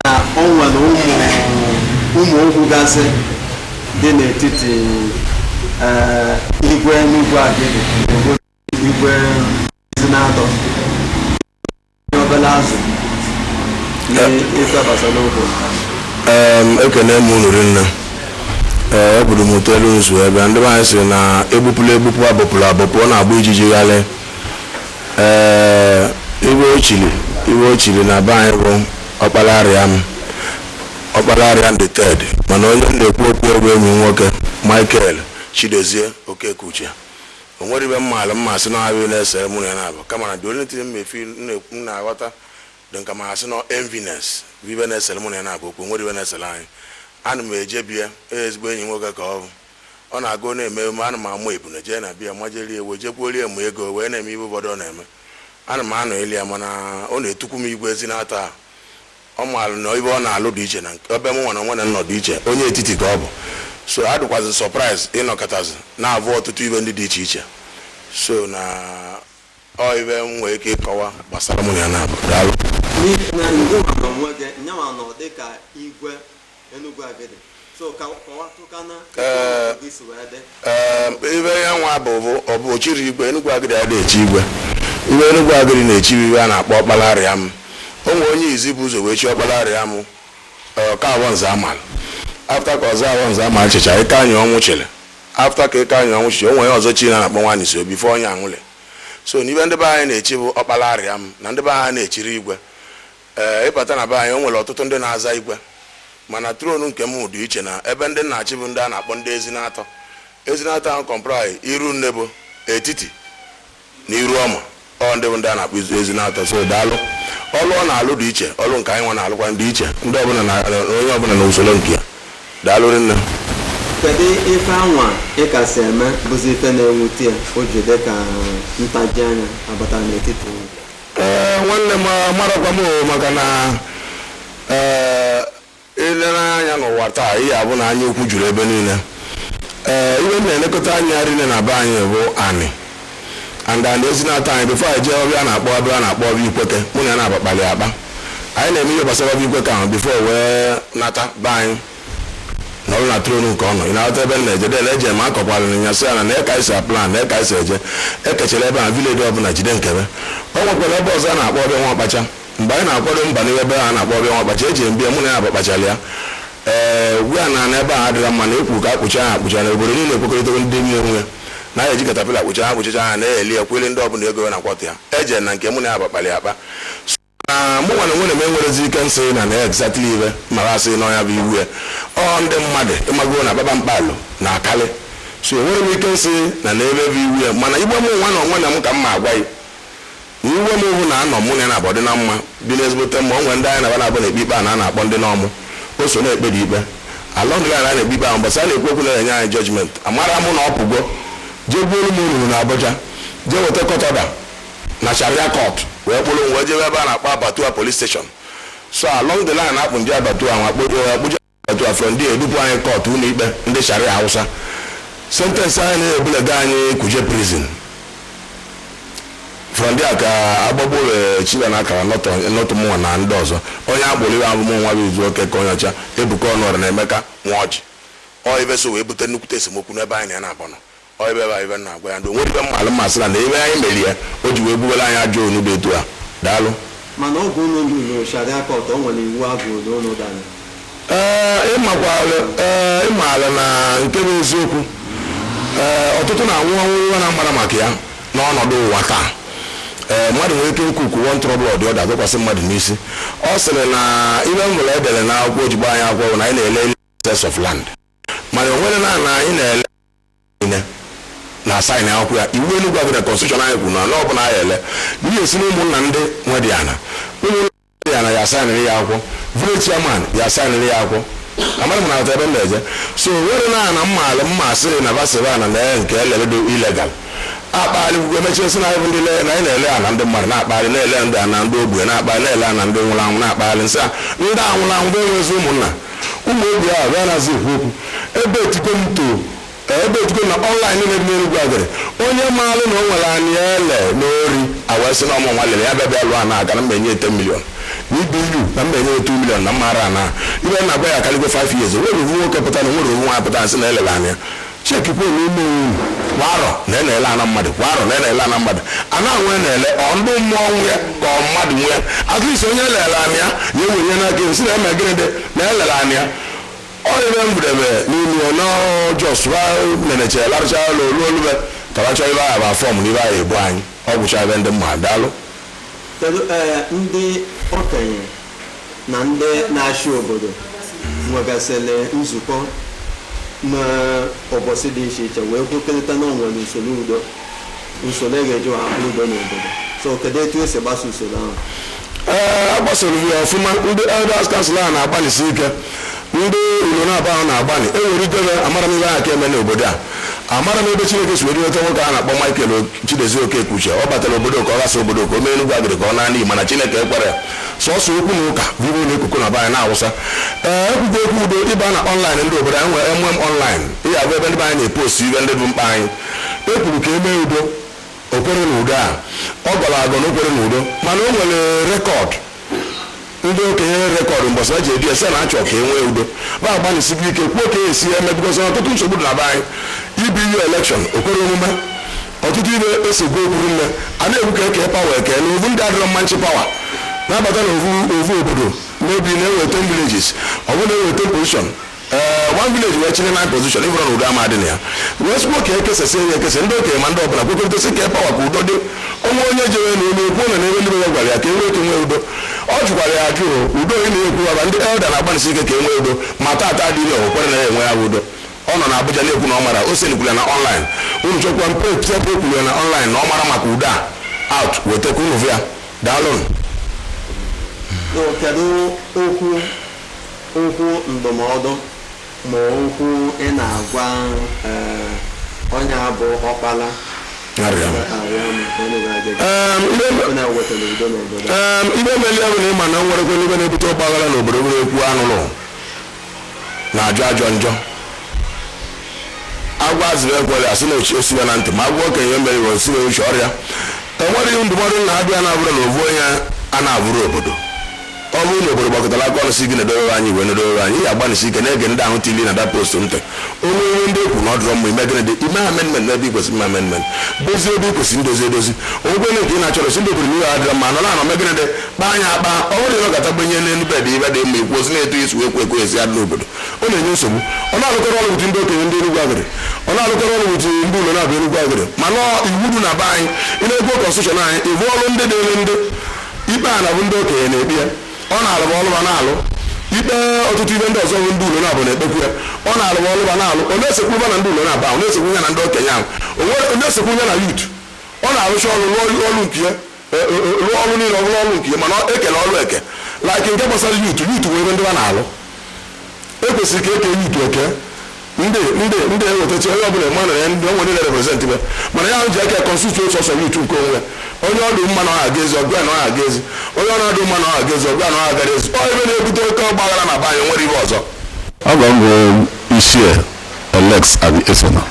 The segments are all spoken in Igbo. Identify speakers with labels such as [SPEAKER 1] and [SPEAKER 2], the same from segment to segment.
[SPEAKER 1] na o nwere ụmụ ụmụ okwu gasị dị n'etiti eh, igwe Enugwu Agidi obodo igwe Ezinatọ Ihe obere azụ na-ịtabasa n'okwu
[SPEAKER 2] Em, ekene m unu rinne ee eburu m ụtọ elu nzu ebe ndị be anyị sị na egbupụla egbupụ abụpụla abụpụ ọ na-agba ijiji ghalị ee ibe o chiri ibe o chiri na be anyị bụ Ọkpalariam Ọkpalariam the third mana onye m na-ekwu okwu ya bụ enyi m nwoke Michael Chidozie Okekeuche o nwerọ ibe m maala m ma-asị na ọ bụ na-esere mụ na ya n'abọ kama na the only thing maybe m na-aghọta dịka m ma-asị na enviness bụ ibe na-esere mụ na ya n'abọ okwu o nwerọ ibe na-esere anyị ana m eje be ya ezigbo enyi m nwoke ka ọ bụ ọ na-aga ọ na-eme emume ana m amụ ebune jee na be ya majelie ewe jekwuolie mụ ego wee na-eme ibe ụfọdụ ọ na-eme ana m anọnyeli ya mana ọ na-etukwu m igwe Ezinatọ ahụ ọ maalụ na ibe ọ na-alụ dị iche na nke ebe mụ nwa na nwa na nọ dị iche onye etiti ka ọ bụ so adịkwazi surprise ịnọkatazi na-avụ ọtụtụ ibe ndị dị iche iche so na ọ ibe m nwere ike ịkọwa gbasara mụ na ya n'abọ daalụ n'ihi na ngị nwa n'onwe gị nyanwa
[SPEAKER 1] nọ dịka igwe Enugu Agidi so ka
[SPEAKER 2] kọwatụkana Ee. obi si wee dị Ee, ibe ya nwa bụ bụ ọ bụ o chirọ igwe Enugwu Agidi adị echi igwe ibe Enugwu Agidi na-echi bụ ibe a na-akpọ Ọkpalariam o nwere onye izi bu ụzọ wee chi Ọkpalariam ọka A.O. Nzeamalu after ka Ọzọ A.O. Nzeamalu chicha Ikeanyịọnwụ chiri after ka Ikeanyịọnwụ chiri o nwere ọzọ chi a na-akpọ Nwaanyịso before onye anwụle so na ibe ndị be anyị na-echi bụ Ọkpalariam na ndị be anyị na-echirọ igwe Ee, ịbata na be anyị o nwere ọtụtụ ndị na-aza igwe mana throne nke m dị iche na ebe ndị ọ na-achị bụ ndị a na-akpọ ndị Ezinatọ Ezinatọ ahụ comprise Irunnebo Etiti na Iruọma ọ ndị bụ ndị a na-akpọ izu- Ezinatọ so daalụ ọlụ ọ na-alụ dị iche ọlụ nke anyị nwa na-alụkwa dị iche ndị ọbụla na onye ọbụla na usoro nke ya daalụ rinne
[SPEAKER 1] kedu ife anwa ị kasị eme bụzi ife na-ewute ya o ji dị ka ntaji anya abata n'etiti unu?
[SPEAKER 2] Ee, nwanne m marakwa m o, maka na ee, ilere anya n'ụwa taa ihe a bụ na anya ukwu juru ebe niile ee ihe m na-elekọta anya rinne na be anyị bụ anị and anị Ezinatọ anyị before anyị jee ọbịa a na-akpọ ọbịa a na-akpọ ọbịa ikwete mụ na ya n'abọ kpalị akpa anyị na-eme ihe gbasara ọbịa ikwete ahụ before wee nata be anyị nọrọ na throne nke ọ nọ ị na-aghọta ebe m na-eje de na-eje m akọkwara nya sị ya na nee ka e si aplan nee ka e si eje ekechara ebe a village ọbụla jide nke be o nwekwara ebe ọzọ a na-akpọ ọbịa nwa ọkpacha mgbe anyị na-akwado mba n'ihe ebe a na-akpọ ọbịa nwa ọkpacha eje m be ya mụ na ya n'abọ kpachara ya ee ugbu a na na ebe a adịghị mma na ekwu ka akpụcha ha akpụcha na obodo niile ekwekọrịtago ndị nwe onwe na ya eji caterpillar kpụcha ha kpụchacha ha na-eli ya kwele ndị ọbụla ego ị na-aghọta ya eje na nke mụ na ya n'abọ kpalị akpa na mụ nwere nwere m enwerezi ike nsị na na exactly ibe mara asị na ọ nya bụ iwe ya ọ ndị mmadụ ịmago na baba mkpalụ na akali so enwere m ike nsị na na ebe bụ iwe ya mana ibe mụnwa na onwe na m ka m ma agwa ya na ibe m hụ na anọ mụ na ya naabọ dị na mma dị n'ezigbote mma o nwere ndị anyị na ba naabọ na-ekpe ikpe a na a na-akpọ ndị Nọmụ o so na-ekpe dị ikpe along the line a na-ekpe ikpe ahụ mbọsị a na-ekwu okwu na-enye anyị judgment amarọ mụ na ọ pụgo jee gbuolu m olulu na Abuja jee weta court order na Sharia court wee kpụrụ m wee jebe ebe a na-akpọ Abatua police station so along the line akpụ ndị Abattoir ahụ akpụje akpụje Abattoir from there edupụ anyị court ụlọ ikpe ndị Sharia Hausa sentence anyị na-ebulega anyị Kuje prison from there ka agbagbo wee chiba na akara nọtụ nọtụ mụnwa na ndị ọzọ onye akpụrụ ibe a bụ mụnwa bụ Izu Okeke Onyeọcha Ebuka Ọnụọra na Emeka Nwaọjị ọ ibe so wee bute nnukwute esemokwu n'ebe anyị na ya naabọ nọ Ọ ebe bụ ibe m na-agwa ya ndị o nwere ibe m maalụ m ma-asị na na ibe anyị mere ya o ji wee bubere anyị ajọ ọnụ dị etu a daalụ Mana oge
[SPEAKER 1] unu ruru Sharia Court, o nwere iwu a gụrụ na unu dara. ee ịmakwalụ
[SPEAKER 2] ee ịmaala na nke bụ eziokwu ee ọtụtụ na-anwụ ọnwụ ihe na-amarọ maka ya n'ọnọdụ ụwa taa ee mmadụ nwere ike ikwu one trouble or the other dọkwasị mmadụ n'isi ọ sịrị na ibe m nwere edere na akwụkwọ o ji gbaa anyị akwụkwọ bụ na anyị na-ele excess of land mana o nwerọ ana anyị na-ele niile na asaịn akwụkwọ ya iwu Enugwu Agidi constitution anyị kwuru na ala ọbụla anyị ele n'ihi esi na ụmụnna ndị nwe dị ana ụmụnna dị ana ya asaịnịrị ya akwụkwọ village chairman ya asaịnịrị ya akwụkwọ amaghị m ma ị na-aghọta ebe m na-eje so o nwerọ ana m maalụ m ma-asị na ba sị bụ ana na nke elebedo illegal akpagharị kwukwe emechie sị na anyị bụ ndị le- na anyị na-ele ana ndị mmadụ na-akpagharị na-ele ndị ana ndị ogbenye na-akpagharị na-ele ana ndị nwụrụ anwụ na-akpagharị nsị a ndị a nwụrụ anwụ ba enwezi ụmụnna Ụmụ ogbe a ba anazi ekwu okwu. Ebetigo m too, eh, ebetigo m na online niile dị n'Enugwu Agidi, onye maalụ na o nwere ana ele na ori, a wee sị na ọ mụnwa lere ya bịa bịa lụọ ana aka na m ma-enye ya 10 million. N'ibu na m ma-enye ya 2 million na ọ maara ana. Ibe m na-agwa ya akarịgo 5 years. O nwerọ ovu nwoke pụta na o nwerọ ovu nwaanyị pụta asị na elere ana ya. chekikwa onwe ime onwe unu kwa arọ na na-ele ana mmadụ kwa arọ na na-ele ana mmadụ ana nwe na-ele ọ ndị mmụọ nwe ka ọ mmadụ nwe atụisi onye elere ana ya ewe ihe n'aka esi na eme gịnị dị na elere ana ya ọ ibe m bidebe n'ime ya na ọ just neneche larụcha ụlọ olu olube taracha ibe ahụ bụ afọm na ibe ahụ ebu anyị ọ gwụcha ebe ndị mmadụ daalụ kedu
[SPEAKER 1] ee ndị okenye na ndị na-achị obodo nwegasịrị nzukọ n'ụbọchị dị iche iche wee kwekọrịta na onwere usoro udo usoro e ga-eji wee hapụ udo n'obodo so kedu etu esi gbaso usoro ahụ ee a
[SPEAKER 2] gbasoro ya ọfụma ndị elders council a na-agbalịsi ike ndị ụlọnabọ ahụ na-agbalị e nwere ike na amarọ m ihe ahụ ka eme n'obodo a amarọ m ebe chineke si were nweta nwoke a na-akpọ michael chidozie okekeuche ọ batara obodo ka ọ ghasa obodo ka o mee enugwu agịdị ka ọ naa n'iyi mana chineke ekwerọ ya sọsọ okwu na ụka bụ ihe na-ekuku na be anyị na-awụsa ee ekwugo okwu udo ịba na ọnlaịn ndị obodo anyị nwere mm ọnlaịn ya bụ ebe ndị be anyị na-epost ive ndị bụ mkpa anyị e kwuru ka e mee udo okwere na udo a ọ gọrọ agọ na okwere na udo mana o nwere rekọd ndị okenye rekọdụ mbọsị e ji ebi ese na-achọ ka e nwee udo va agbanisigo ike kwuo ka esi ya eme bikọsọ ọtụtụ nsogbu dị na be anyị ibu ihe elekshọn o kwerọ omume ọtụtụ ive esogbu okwuru nne a na-ekwu ka eke pawa eke na ovu ndị adịrọ mma nchi pawa na-abata na ovu ovu obodo mebi na e nwee ten villages ọ bụrụ na e nwee ten position ee one village wee chịrị nine position ị vụrụ na udo ama adị na ya wee sikwa ka ekesasị ya ekesa ndị okenye ma ndị ọbụla kwekọrịtasị ka pawa ka udo dị onwe onye jere na elu okwu na n'ebe ndị ya gwara ya ka enwee ike nwee udo ọ jụkwara ya ajụ udo ị na-ekwu ọba ndị elda na-agbanịsi ike ka enwee udo ma taata adịghị o kwerọ na ya enwe ya udo Ọ nọ n'Abuja na-ekwu na ọ mara, Osen kwuru ya na online. Unu chọkwa mpe Tiapo kwuru ya na online na ọ marọ maka udo a. Out, weta ka unu hụ ya. Daalụnụ. So,
[SPEAKER 1] kedu okwu okwu ndụmọdụ ma okwu ị na-agwa eh, onye a bụ Ọkpalarịam. arịa m ka onye ga-adị
[SPEAKER 2] gị Em, ihe m- onye wetara udo n'obodo Ee, ive meli ahụ na ị ma na nwerekwa n'ive na-ebute ọgbaghara n'obodo nwere ekwu anụlụ na-ajọ ajọ njọ agwa azịrị ekwere asị na ochie siwe na ntị ma agwa okenye mere iwe siwe uche ọrịa enwere ihe ndụmọdụ na abịa na-abụrụ na ovu onye a na-abụrụ obodo ọ bụrụ na obodo gbakọtara aka ọnụ si gị na-edowe anyị wee na-edowe anyị ya agbanisi ike na-ege ndị ahụ tili na dat post ntị o nwee ihe ndị ekwu na ọ dịrọ mma i mee gịnị dị ime amendment n'ebe ikwesị ime amendment dozie ebe ikwesị ndozi edozi o nwekwee na nke ị na-achọrọ si ndị obodo n'ihe adịrọ mma nọ na-anọ mee gịnị dị kpaa ya akpa ọ bụrụ na ịnọkọta gbenye n'elu bed ive dị mma ikwu osi na-eto isi wee kwekwe esi adị n'obodo ọ na-enye nsogbu ọ na-alụkọrọ ọrụ with ndị okenye ndị Enugwu Agịdị ọ na-alụkọrọ ọrụ with ndị ụlọnabọ Enugwu Agịdị mana iwu dị na be anyị ị na-ekwu kọnstitushọn anyị ịbụ ọrụ ndị dịrị ndị ikpe a na bụ ndị okenye na-ekpe ya ọ na-alụ ma ọlụ va na-alụ ikpe ọtụtụ ive ndị ọzọ bụ ndị ụlọnabọ na-ekpekwu ya ọ na-alụ ma ọlụ va na-alụ ọ na-esekwu va na ndị ụlọnabọ ahụ na-esekwu ya na ndị okenye ahụ ọ na-esekwu ya na yut ọ na-arụcha ọrụ n'ọrụ nke ya rụọ ọrụ niile ọ bụrụ ọrụ nke mana ekele ọrụ eke like nke gbasara youth youth nwee ebe ndị a na-alụ ekwesịrị ka eke youth eke ndị ndị ndị ewetachi onye ọbụla ma na ndị onwe ndị na-represent be mana ya ji aka constitute otu ọsọ youth nke onwe onye ọdụ mma na ọha ga ezi ọgụ ya na ọha ga ezi onye ọ na-adụ mma na ọha ga ezi ọgụ ya na ọha gara ezi ọ ife na-ebute oke ọgbaghara na be anyị nwere ife ọzọ Afa m bụ
[SPEAKER 3] Ichie Alex Aniesona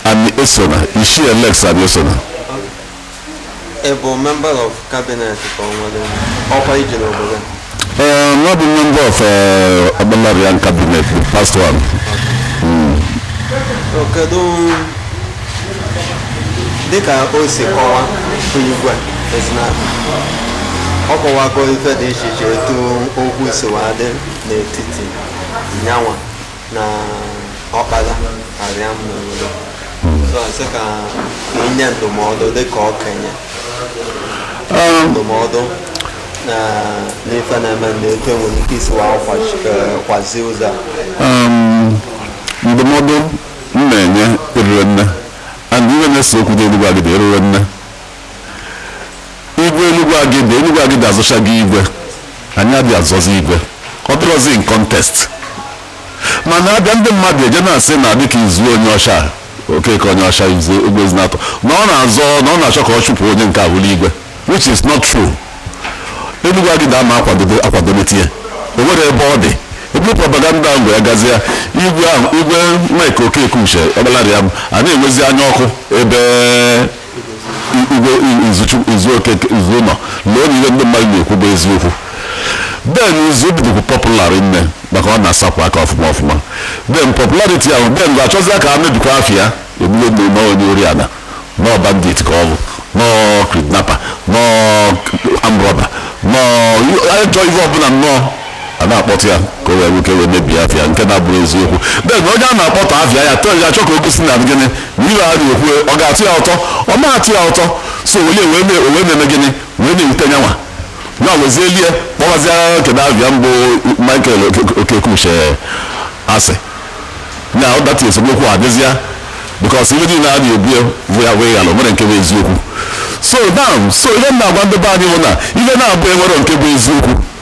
[SPEAKER 3] Aniesona, Ichie Alex Aniesona.
[SPEAKER 1] Ị bụ member of cabinet ka o nwere ọkwa i ji n'obodo? Uh, not
[SPEAKER 3] the member of uh, Okpalariam cabinet, the first one.
[SPEAKER 1] Mm. Kedu dịka o si kọwa igwe ezina ọ kọwago ife dị iche iche etu okwu si wee dị n'etiti nyanwa na Okpalariam n'obodo so a sị ka i nye ndụmọdụ dịka okenye ndụmọdụ na n'ife na-eme ndị etu enwere ike isi wa kwazi ụzọ a
[SPEAKER 3] Um, ndụmọdụ m na-enye erirọ nne and ihe na-ese okwu n'Enugwu Agidi erirọ nne igwe Enugwu Agidi Enugwu Agidi azọchago igwe anyị adịghị azọzi igwe ọ dịrọzi in contest mana a bịa ndị mmadụ eje na-asị na dịka izu onye ọcha okeke onye ọcha izu igwe ezinatọ na ọ na-azọ na ọ na-achọ ka ọ chụpụ onye nke a bụrụ igwe which is not true Enugwu Agidi ama akwadobe akwadobe tinye o nwere ebe ọ dị ebe propaganda ahụ gwara gazi ya igwe ahụ igwe Mike Okekeuche Okpalariam a na-enwezi anya ọkụ ebe igwe izu okeke izu nọ lee na ihe ndị mmadụ na-ekwu bụ eziokwu then izu bịa dịkwu popular nne maka ọ na-asapụ aka ọfụma ọfụma then popularity ahụ then ga achọzi ka a mebikwa afa ya ebulu na ọ onye ori ana na ọ bandit ka ọ bụ na ọ kidnapper na ọ armed robber na ọ ajọ ihe ọbụla nnọọ a na-akpọta ya ka e wee nwee ike wee mebie afa ya nke na-abụrọ eziokwu then onye a na-akpọta afa ya tọọ ya achọ ka o gosi na gịnị na ihe a na-ekwu ọ ga-atọ ya ụtọ ọ na-atọ ya ụtọ so onye wee mee o wee na-eme gịnị wee na-ewute nyanwa ya wezie iwe kpọwazia kedu afa ya bụ Michael Oke- Okekeuche asị na ọ data esemokwu adịzịa because ihe niile a na-ebu ya bụ ya wee ghara o nwerọ nke bụ eziokwu so now so ihe m na-agwa ndị be anyị bụ na ihe na-abụ enwere nke bụ eziokwu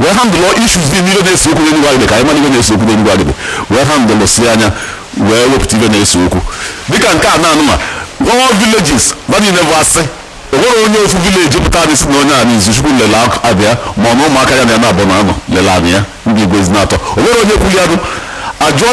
[SPEAKER 3] wee handle issues dị n'ihe na-ese okwu n'Enugwu Agidi ka anyị mara ihe na-ese okwu n'Enugwu Agidi wee handle si anya wee wepụta ihe na-ese okwu dịka nke a na-anụ ma all villages na niile bụ asị o nwerọ onye ofu village pụtara sị na onye a na Izuchukwu lele anị ya ma ọ na ụmụaka ya na ya na-abụ na a nọ lele anị ya ndị igwe ezinatọ o nwerọ onye kwuru ya nụ ajụọ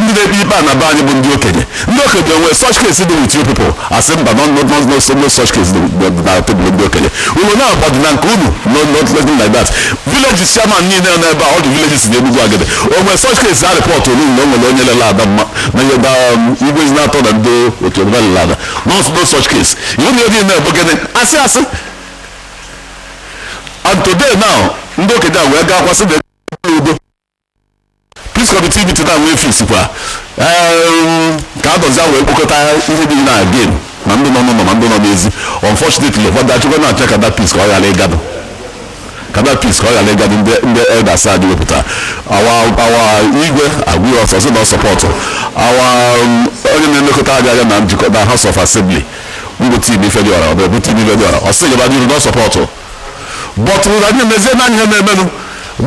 [SPEAKER 3] ndị na-ekpe ikpe a na be anyị bụ ndị okenye ndị okenye nwee such case dị with you people asị mba no no no no so no such case dị dị na tebụl ndị okenye unu na-agbadị na nke unu no no nothing like that villages chairman niile nọ n'ebe a all the villages na Enugwu Agidi o nwee such case a reportolu na o nwere onye lele ana ma na ihe da igwe Ezinatọ na ndị otu ọbụla lele ana no no such case iwu na ihe niile bụ gịnị asị asị and today now ndị okenye a wee gaa kwasị na udo Peace committee meeting na wee fix kwa Em, ka adọzia wee kpokọta ihe dị na again ma ndị nọ n'ụlọ ma ndị nọ n'ezi unfortunately ụfọdụ achịkwa na-achọ ka that peace ka ọ ghara ịga adị ka that peace ka ọ ghara ịga adị ndị ndị elders a wee pụta our our igwe agwụghị ọsọ sị na ọ sọpọtụ our um, onye na-elekọta anyị anya na Njikoka na house of assembly bụ Tim Ifediora ọ bụ Tim Ifediora ọ sị gaba n'iru na ọ sọpọtụ but ụra ndị mezie na ihe na-emenụ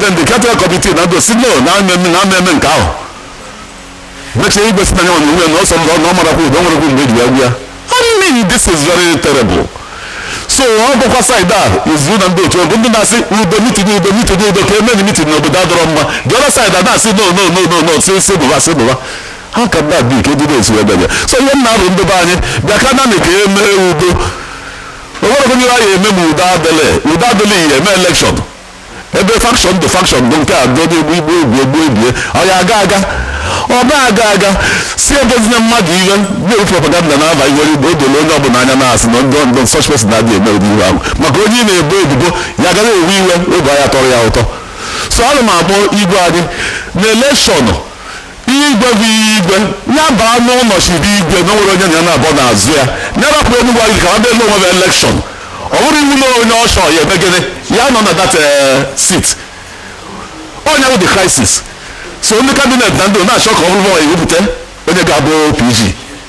[SPEAKER 3] then the caretaker committee na ndị a sị no na a ma-eme na a ma-eme nke ahụ mechaa igwe sị na ya nwere onwe ya na ọsọ na ọ marakwa ụdọ nwerekwu mgbe eji agwa ya I mean this is very terrible so ọ bụkwa side a izu na ndị otu bụ ndị na-asị udo mitin udo mitin udo ka emeni mitin na obodo adịrọ mma the other side a na-asị no no no no no si si bụba si bụba how can that be ka ebido otu ebe bịa so ihe m na-arịọ ndị be anyị bịa ka anyị ka e mee udo onwere onye ya eme ma udo adịlị udo adịlị ya eme elekshọn ebe fakshọn dị fakshọn bụ nke a dọdo egbu igbu egbu egbu ebie ọ ya aga aga ọ ma-aga aga si ebozina mmadụ ihe na-ewu propaganda na-aba iwere igbo o dole onye ọbụla anya na-asị na ndị ndị such person na-adị eme ụdị ihe ahụ maka onye ị na-ebo ebubo ya agaghị ewe iwe ọ ga-atọrọ ya ụtọ so ana m akpọ igwe anyị na elekshọn Igwe bụ igwe, ya baa n'ụlọ chibe igwe na onwere onye na ya na-abọ n'azụ ya, ya rapụ Enugwu Agidi ka ha bịa nwee elekshọn. Ọ bụrọ iwu na onye ọ chọrọ ya-eme gịnị, ya-anọ na that eh, seat. Ọ nya bụ the crisis. So ndị kabinet na ndị na-achọ ka ọ bụrụ ha ewepụta onye ga-abụ PG.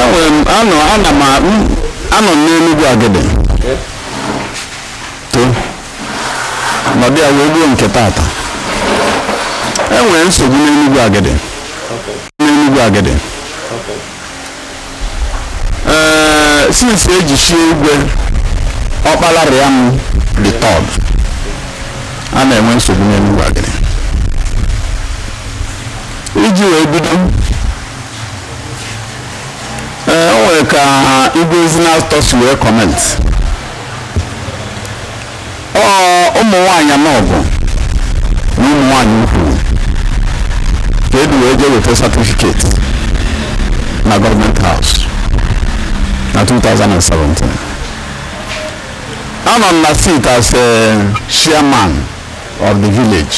[SPEAKER 3] enwere m anọ ana m a- m- anọ m n'Enugwu Agidi to nọdụ ya wee kwuo nke tata enwere nsogbu n'Enugwu Agidi n'Enugwu Agidi ee since eji chie igwe Ọkpalariam the third a na-enwe nsogbu n'Enugwu Agidi iji wee bido ee o nwere ka igwe Ezinatọ si wee kọment ọ ụmụ nwaanyị anọ bụ na ụmụ nwaanyị ukwu ka edu wee jee weta satifiketi na Government House na 2017 anọ m na seat as a chairman of the village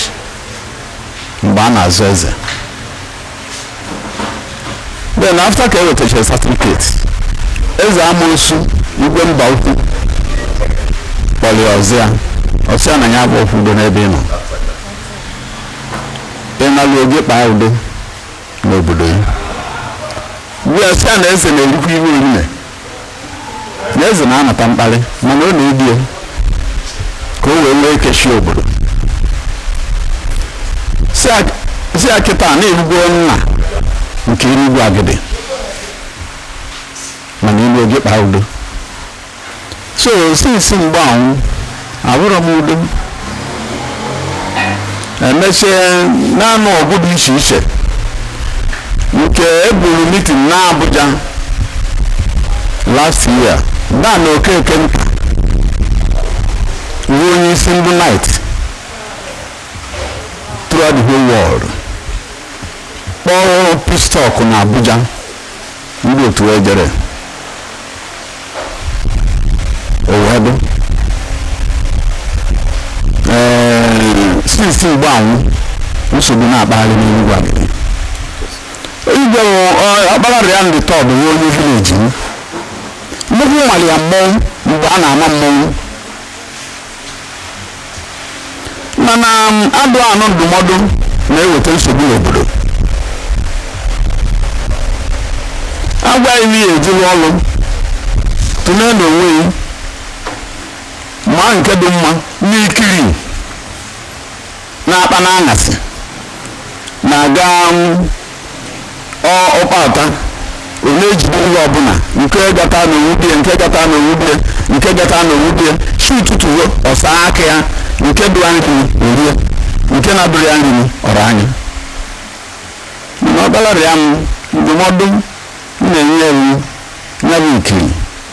[SPEAKER 3] mgbe a na-azọ eze then after ka e wetachara certificate eze amoosu igwe mbaukwu kpọrọ ya ọzọ ya ọ sị ya na ya bụ okwu udo n'ebe ị nọ ị naluo gaa kpaa udo n'obodo ya mgbe ọ sị ya na eze na-erikwa ihe niile na eze na-anata mkparị mana ọ na-edi ya ka o wee nwee ike chị obodo sị ya kịta na ị wụgo nna nke enugwu agịdị mana i luo gaa kpaa udo so since mgbe ahụ abụrọ m udo emechie na-anụ ọgụ dị iche iche nke eburu meeting na Abuja last year dan okekenta bụ onye isi ndị knight throughout the whole world kpọọ peace talk na Abuja ndị otu ejere owedụ ee since mgbe ahụ nsogbu na-akpagharị n'enugwu agịdị igwe ọkpalarịam the third bụ onye village m nnukwu mmalị ya mmọnwụ mgbe a na-ama mmọnwụ mana mmadụ anụ ndụmọdụ na-eweta nsogbu n'obodo a gwa gị ihe ejiri ọrụ tụlee n'onwe gị maa nke dị mma n'ikiri na-akpa n'aṅasị na-aga ọkpata ọ na-ejide ihe ọbụla nke gata na owubie nke gata na owubie nke gata na owubie chi ụtụtụ ruo ọ saa aka ya nke dụrụ nri o rie nke na-adụrọ ya nri ọ rọ anya mana ọkpalarịam ndụmọdụ m na-enye ya wụ ya bụ ikiri